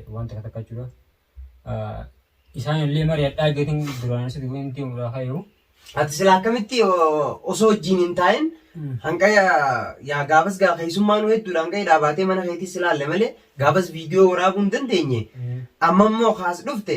waan takka takka jechuudha. Isaan illee mari'adhaa geetiin duraan sitti wanti uumaa hayyuu. Ati sila akkamitti osoo wajjin hin taa'in hanga yaa gaafas gaa keessummaa nu hedduudha hanga hidhaa baatee mana keetis ilaalle malee gaafas viidiyoo waraabuu hin dandeenye amma immoo kaas dhufte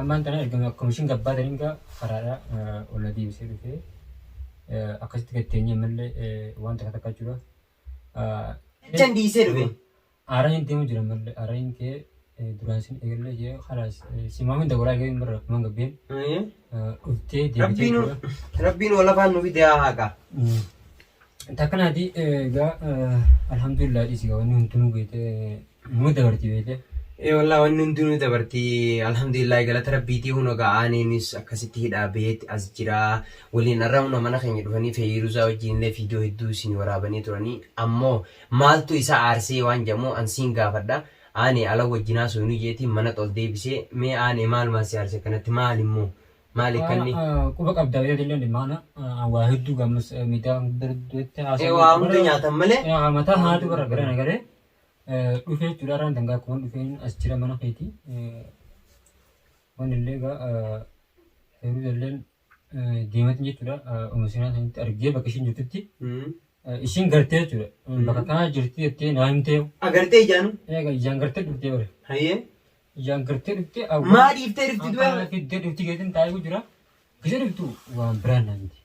Ammaan tana erga komishin gabbaa daringaa karaadhaa ol na deebisee dhufee akkasitti gad teenyee ammallee waan takka takka jechuudha. Jechan dhiisee dhufe. Aaraa hin deemu jira ammallee aaraa hin kee duraan sin eegallee jee kalaas simaa hunda waraa eegalee hin barra kumaan gabbeen dhuftee deebitee Rabbiin jechuudha. Rabbiin wal afaan nu fide haa haqa. Takkanaati egaa alhamdulillah dhiisi gaa wanni hundinuu beekte Nuu dabartii beekee. Ee wallah wanni hundinuu dabartii alhamdulillah galata rabbiitii huno ga'aaniinis akkasitti hidhaa beetti as jira waliin arra huno mana keenya dhufanii feeyiruuzaa wajjin illee fiidiyoo hedduu isin waraabanii turanii ammoo maaltu isa aarsee waan jedhamu an siin gaafadha aane ala wajjin haasoynu jeetiin mana xol deebisee mee aane maalumaa si aarse akkanatti maal immoo maal ikkanni Haa quba qabda beekee illee dhimmaana an waa hedduu gammas miidhaa guddaa duratti ee haasaa waa hunda nyaatan malee haa mataa haatu bara gara nagaree Dhufee jechuudha irraan dangaa kuwan dhufeen as jira mana keeti. Wanni illee egaa heeruu illeen deematin jechuudha uma seenaa sanitti argee bakka ishiin jirtutti ishiin gartee jechuudha bakka kanaa jirti jettee naa himtee Agartee ijaanu? eega ijaan gartee dhuftee bara Hayyee. ijaan gartee dhuftee awwa Maa dhiiftee dhufti du'e? Akkana fiddee dhufti geetin taa'ee jira gisa dhuftu waan biraan naa miti.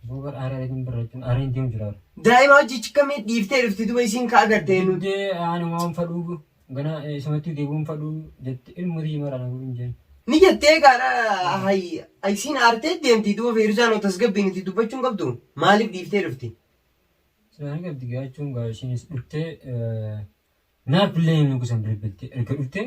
Google Aaree wajjin barreechuun Aareen deemu jira. Daa'ima hojii chikkamii dhiiftee dhufti duba isiin ka agarte eenyu. Dee ani waan fadhuu gana isumatti deebi'uun fadhuu jetti ilmu tii mara na hin jeen. Ni jettee gaara hay isiin aartee deemti duba feeruzaan oo tasgabbiin itti dubbachuun qabdu maaliif dhiiftee dhufti. Silaani qabdi gaachuun gaa ishiinis dhuftee naaf illee nugusan bilbilti erga dhuftee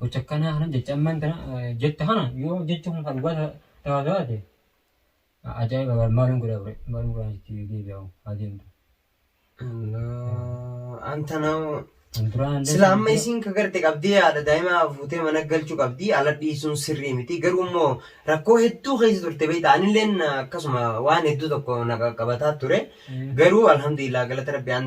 gocha akkanaa kana jecha ammaan kana jette kana yoo jechi kun kan dhugaa ta'aa taate ajaa'iba bara maaliin godhaa ture maaliin godhaa itti deebi'aa haa deemtu. Anta na'u. Duraan Sila amma isiin ka garte qabdii haadha daa'imaa fuutee mana galchuu qabdii ala dhiisuun sirrii miti garuu immoo rakkoo hedduu keessa turte beektaa anilleen akkasuma waan hedduu tokko na qaqqabataa ture garuu alhamdulillah galata rabbi an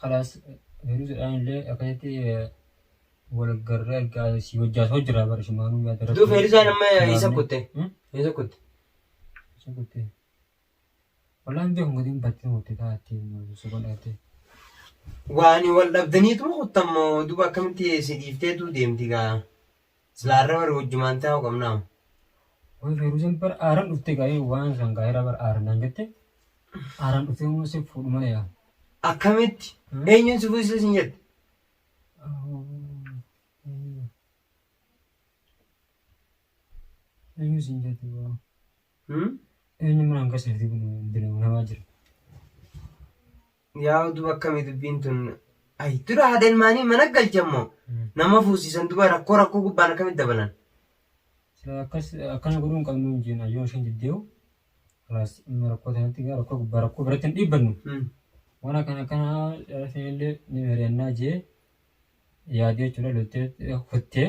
Kalaas Firuuzadhaan illee akkasitti wal garree argaa si wajjaas hojjira bara sumaanuu yaada Duu rabbii. Feerizaan amma isa Sumaanuu. kutte. Hmm? Isa kutte. Isa kutte. Wallahi beeku gadiin battee murte taatee suban dhaabtee. Waani wal dhabdaniitu kuttammoo duba akkamitti si dhiifteetu deemti gaa. Silaa arra bar wajjumaan taa'u qabnaam. Way feeruusan bar aaran dhufte gaa'ee waan san gaa'eera bar aaran naan jette aaran dhufte immoo si fuudhu malee yaa. Akkamitti? Eenyuun si fuusisa sin jette? Eenyu sin jette waa. Hmm? Eenyu manaan keessatti kun dinamaa jira. Yaa oduu akkami dubbiin tun. Ay dura haada ilmaanii mana galchan moo nama fuusisan duba rakkoo rakkoo gubbaan akkamitti dabalan. Sila akkas akkana godhuu hin qabnu hin jeena yoo isheen diddeewu kalaas amma rakkoo tanatti gaa rakkoo gubbaa rakkoo biratti hin dhiibbannu Hmm. waan akkana akkana dhalasiin illee ni mari'annaa jee yaadee jechuudha loltee kuttee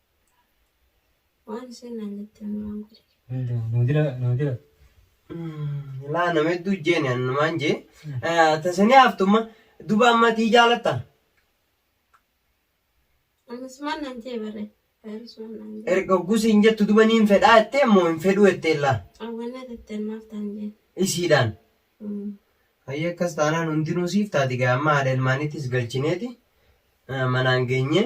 Waan isheen naan jette amma waan godhe. Nuudira nuudira. Laa nama hedduu jeeni annumaan jee. Tasanii haaftumma duba amma tii jaalatta. Ammas maal naan jee barre. Faayiris waan naan jee. Erga oggusi hin jettu duba niin fedhaa jettee immoo hin fedhuu jettee laa. Awwannaa tattee maaf taan jee. Isiidhaan. Mm. Hayyee akkas taanaan hundinuu siif taati gaa amma haadha ilmaaniittis galchineeti eh, manaan geenyee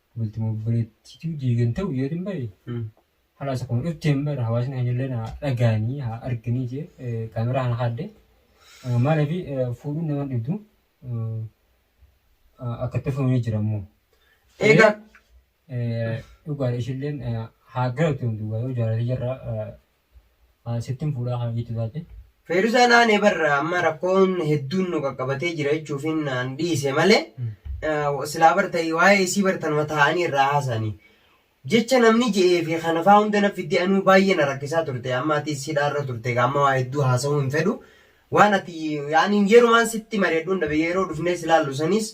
bultuma obboleettiitu diigan ta'u yoo hin bahe halaas akkuma dhufteen bara hawaasni hanyallee na dhagaanii haa arganii jee kaameraa kana kaadde maaliif fuudhuun nama dhibdu akka itti fuunee jira immoo. Egaa Dhugaadha ishilleen haa galatu yoo jaalate jirra An sittin fuudhaa kan jettu taate. Feeruzaa naanee bar amma rakkoon hedduun nu qaqqabatee jira jechuufiin an dhiise malee silaa bar ta'e waa'ee isii bar tanuma taa'anii irraa haasa'anii. Jecha namni je'ee fi kanafaa hunda na fiddee anuu baay'ee na rakkisaa turte amma atis hidhaarra turte gaa amma waa hedduu haasa'uu hin fedhu. Waan ati yaani yerumaan sitti mari'adhuun dhabe yeroo dhufnees ilaallu sanis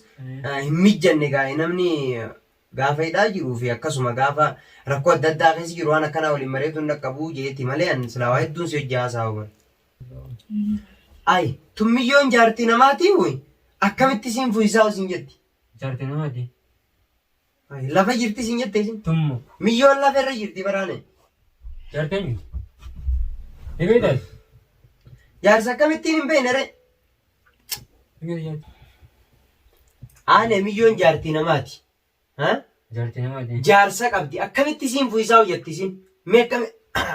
hin mijjanne gaa namni Gaafa hidhaa jiru fi akkasuma gaafa rakkoo adda addaa keessa jiru waan akkanaa waliin mari'atu hin dhaqqabu jeeti malee an silaa waa hedduun si hojii haasa'u bar. Ay tummiyyoon jaartii namaatii wuy akkamitti siin fuyisaa siin jetti. Jaartii namaati. Ay lafa jirti siin jette isin. Tummu. Miyyoon lafa irra jirti baraane. Jaartii eenyuti? Ni beektaati? Jaarsa akkamittiin hin beekne ree? Aan emiyyoon jaartii namaati. Ha? Jaartii namaati. Jaarsa qabdi. Akkamitti isiin fuyisaa hojjatti isin? Mee akkami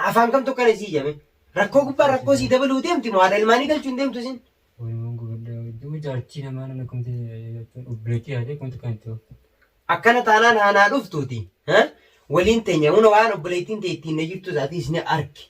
afaan kamtu akkana isii jame? Rakkoo gubbaa rakkoo sii dabaluu deemti moo haadha ilmaanii galchuu hin deemtu isin? Oromoon gubadhaa hedduu jaartii namaa namni akkamitti jechuun obboleettii haadha akkamitti kan itti ooftu. Akkana taanaan haanaa dhuftuuti. Ha? Waliin teenya huna waan obboleettiin tee ittiin na jirtu isaati isni arki.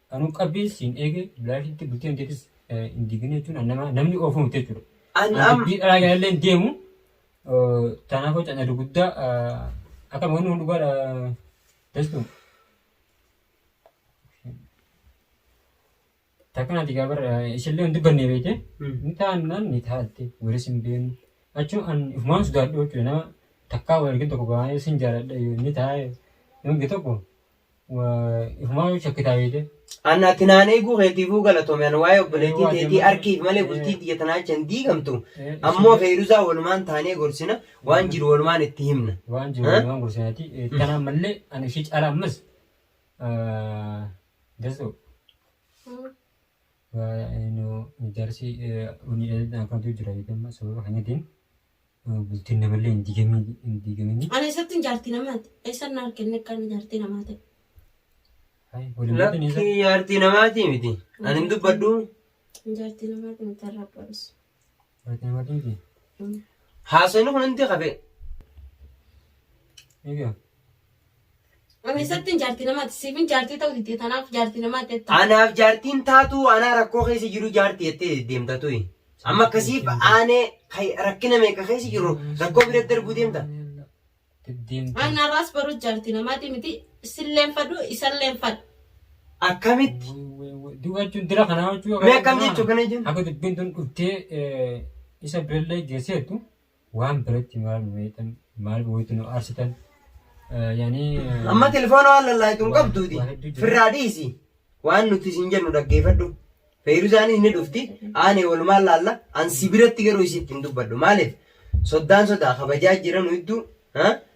Anuu qabbiin siin eege bilaashitti bulteen teetis hin digine jechuun an nama namni oofuu miti jechuudha. An An am dubbii dharaa kanallee hin deemu tanaafuu cana duguddaa akka wanni kun dhugaadha teessu takka naati gaabar ishillee hin dubbanne beekte Mm. ni taannaan ni taatte walis hin beenu achuun an ifumaan sodaadhu jechuudha nama takkaa wal argin tokko baay'ee sin jaaladha yoo inni taa'e yoo inni tokko Ifumaa yoo shakkitaa beekte. An ati naan eeguu keetiifuu galatoome an waa'ee obboleettii teetii arkiif malee bultii tiyya tanaa jecha hin diigamtu ammoo feeruzaa walumaan taanee gorsina waan jiru walumaan itti himna. Waan jiru walumaan gorsinaati tanaa mallee an ishii caala ammas dasoo jaarsi unni dheedadhaan kanatu jira jeetamma sababa kanyatiin. Bultiin namallee hin diigamiin hin diigaminii. Ani eessattin jaartii namaati? Eessan na argenne akka inni jaartii namaa ta'e? Hayi waliin bultiin eessa? Lakkii jaartii namaatii miti. Ani hin dubbadhu. Ani jaartii namaati miti irraa barus. Jaartii namaati miti. Haasofni kun hundi kafee. Egaa Ameessattiin jaartii namaati. Siifin jaartii ta'uu didde tanaaf jaartii namaa teetta. Anaaf jaartiin taatuu anaa rakkoo keessa jiru jaartii jettee deddeemta tuyi. Amma akkasiif aanee kay- rakkina meeqa keessa jiru rakkoo bira darbuu deemta. Waan narraas baruu jaartii namaatii miti. Silleen fadhu isalleen fadhu. Akkamitti? Duuba jechuun dira kanaa hojjuu. Mee akkam jechuu kana jennu? Akka dubbiin tun dhuftee eh, isa birallee geesseetu. Waan biratti maal nu heetan maal waytu nu aarsitan yani Amma telefoona waan lallaayitu hin qabduuti. Firraa dhiisi. Waan nuti isin jennu dhaggeeffadhu. Feeruzaanis ni dhufti. Aanee walumaan laalla. An si biratti garuu isiitti hin dubbadhu. Maaliif? Soddaan sodaa kabajaa jira nu hedduu.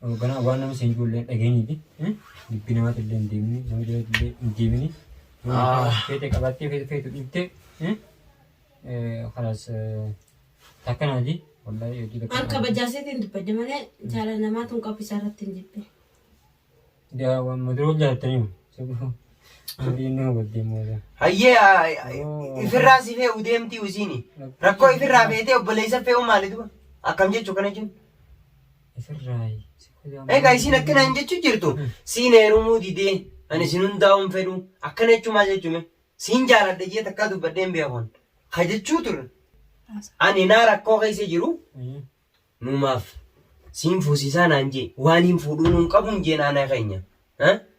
Hoogganaa waan nama seenjuu illee dhageenyiti. Dubbii namaatti illee hin deemini. Nama jala illee hin deemini. Feete qabattee feete feetu dhiiftee. Kanas takka naati. Wallahi hojii takka. An kabajaaseetiin dubbadde malee jaala namaa tun qoffisaa irratti hin jibbe. Daa waan mataa wal jaalatanii. Marii inni hubattee moola. Hayyee aa, ifirraa si fe'u deemtii usiini. Rakkoo ifirraa feetee obboleessa fe'u maali duba? Akkam jechuu kana jechuun? Ifirraayi. Egaa isiin akkana hin jechuu jirtu siin heerumuu didee ani sin hundaa'uun fedhu akkana jechuu maal jechuume siin jaaladha jee takkaa dubbadhee hin beekun ka jechuu turre ani naa rakkoo keessa jiru nuumaaf siin fuusiisaa naan jee waan hin fuudhuu nuun qabuun jee naana keenya.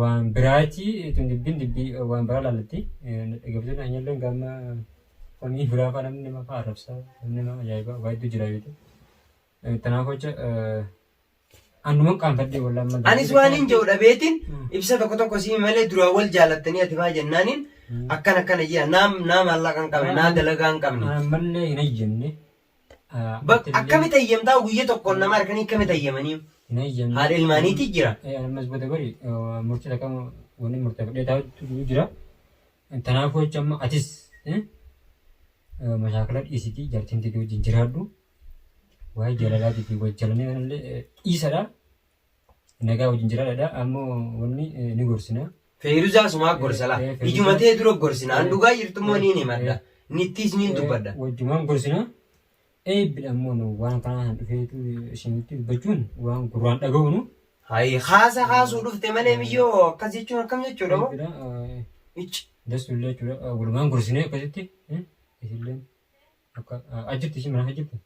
waan biraati tun dubbiin dubbii waan biraa laallatti dhaggeeffattoonni hanyalleen gaamma komii biraa faa namni nama faa arrabsaa namni nama ajaa'ibaa waa hedduu jira beekte tanaaf hoca annuman qaanfadhee wallaan amma gaamma Anis waan hin jedhu dhabeetiin ibsa tokko tokko sii malee duraan wal jaalattanii ati faa jennaaniin akkan akkana jira naam naa maallaqa hin qabne naa dalagaa hin qabne ammallee hin hayyamne Bak akkamitti eeyyamtaa guyya tokkoon nama harkanii akkamitti eeyyamanii? Hin eeyyamne. Haadha ilmaaniitii jira. Eh, Ammas booda bari eh, murtii takka wanni murteeffadhee taa'utu jira. Tanaafuu jecha amma atis eh, eh, mashaakala dhiisitii jartiin tiyya wajjin jiraadhu. Waa'ee jaalalaatii fi wajjalanii kanallee eh, dhiisadha. Nagaa wajjin jiraadha. Ammoo wanni eh, ni gorsina. Feeruzaa sumaa gorsa laa. Eh, eh, Feeruzaa. Ijuma tee dura gorsina. An Eh, dhugaa jirtu immoo eh, niin himadha. eh. Nittiis niin dubbadha. Eh, Wajjumaan gorsina. Eebbidha ammoo nu waan kanaa hin dhufeetu isinitti dubbachuun waan gurraan dhaga'uunu. Hayi haasa haasuu dhufte malee miyyoo akkas jechuun akkam jechuudha moo? Eebbidha. eh, Icci. Dassullee jechuudha. eh, Walumaan gorsinee akkasitti. eh, Isilleen akka ah, ajjirti ishii mana ajjirti.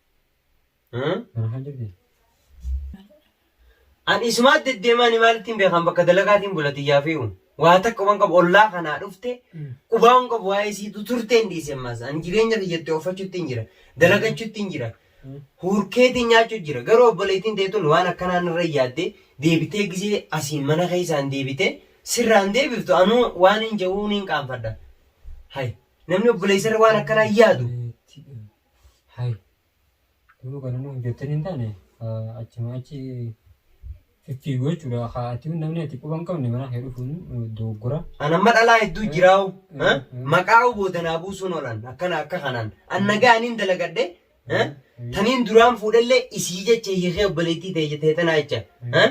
An isumaatti deddeemaani maalittiin beekan bakka dalagaatiin bula xiyyaa fe'u. Waa takka waan qabu ollaa kanaa dhufte qubaa waan qabu waa'ee siitu turtee hin dhiise ammaas. An jireenya kiyyatti ooffachuutti hin jira. Dalagachuutti hin jira. Huurkeetiin nyaachuu jira. Garuu obboleettiin teetun waan akkanaan irra yaadde deebitee gisee asiin mana keessaan deebite sirraan deebiftu anuu waan hin ja'uu niin qaanfadha. Hay namni obboleessarra waan akkanaa yaadu. Hay Garuu kan inni hojjettan hin taane achuma achi fiffiiguu jechuudha. Haa ati namni ati quba hin qabne manaa kee dhufuun dogoggora. An amma dhalaa hedduu jiraa'u. ha? Maqaa'u booda naa buusuun oolan akkana akka kanaan. An nagaa aniin dalagadhe ha? taniin duraan fuudhellee isii jecha hiikee obboleettii ta'e jettee tanaa jecha ha?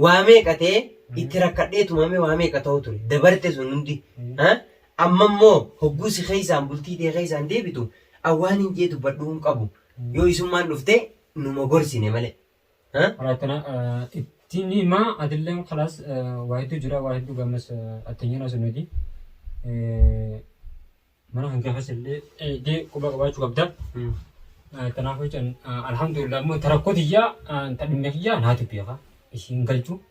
waa meeqa ta'e itti rakkadhee tumamee waa meeqa ta'u ture dabarte sun hundi ha? Amma immoo hogguu si keessaan bultii tee keessaan deebitu an waanin jee dubbadhuu hin qabu yoo isummaan dhufte numa gorsine malee. Haa? Karaa akkana itti ni hima atilleen kalaas waa hedduu jira waa hedduu gammas attenyoon haasofnu hojii mana kan kee keessa illee eegdee quba qabaachuu qabda. Kanaafuu jechuun alhamdulillah immoo ta rakkoo tiyyaa ta dhimma kiyyaa naatu beeka isiin galchu.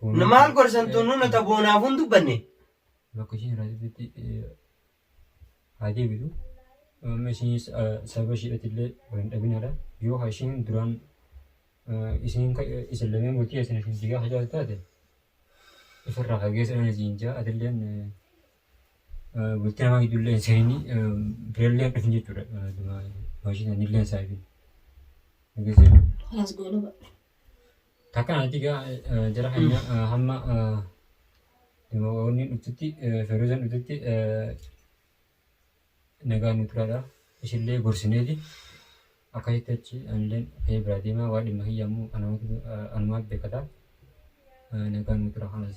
Fooloo Maal kee- gorsan eh, tunnu nuta boonaaf hin dubbanne. location irraatitti haa deebitu. Amma isinis sababa ishiidhatti illee wal hin dhabinaadha. Yoo haa ishiin duraan eh, isin ka- eh, isin lameen bultii isin isin jigaa hajaa taate ifirraa fageessa dhaan isin jaa atilleen eh, eh, bultii namaa gidduu illee hin seenini eh, birallee hin dhufin jechuudha. Eh, duma- Maashiin illee hin saayibin. Dhageessee? Halas goolaba. Takka natti egaa jara keenya hamma demoonni dhuftutti feerozan dhuftutti nagaan nu turaadha. Ishillee gorsineeti akkasitti achi anilleen ka'ee biraa deema waa dhimma kiyya ammoo anumaaf beekata nagaan nu tura kanas.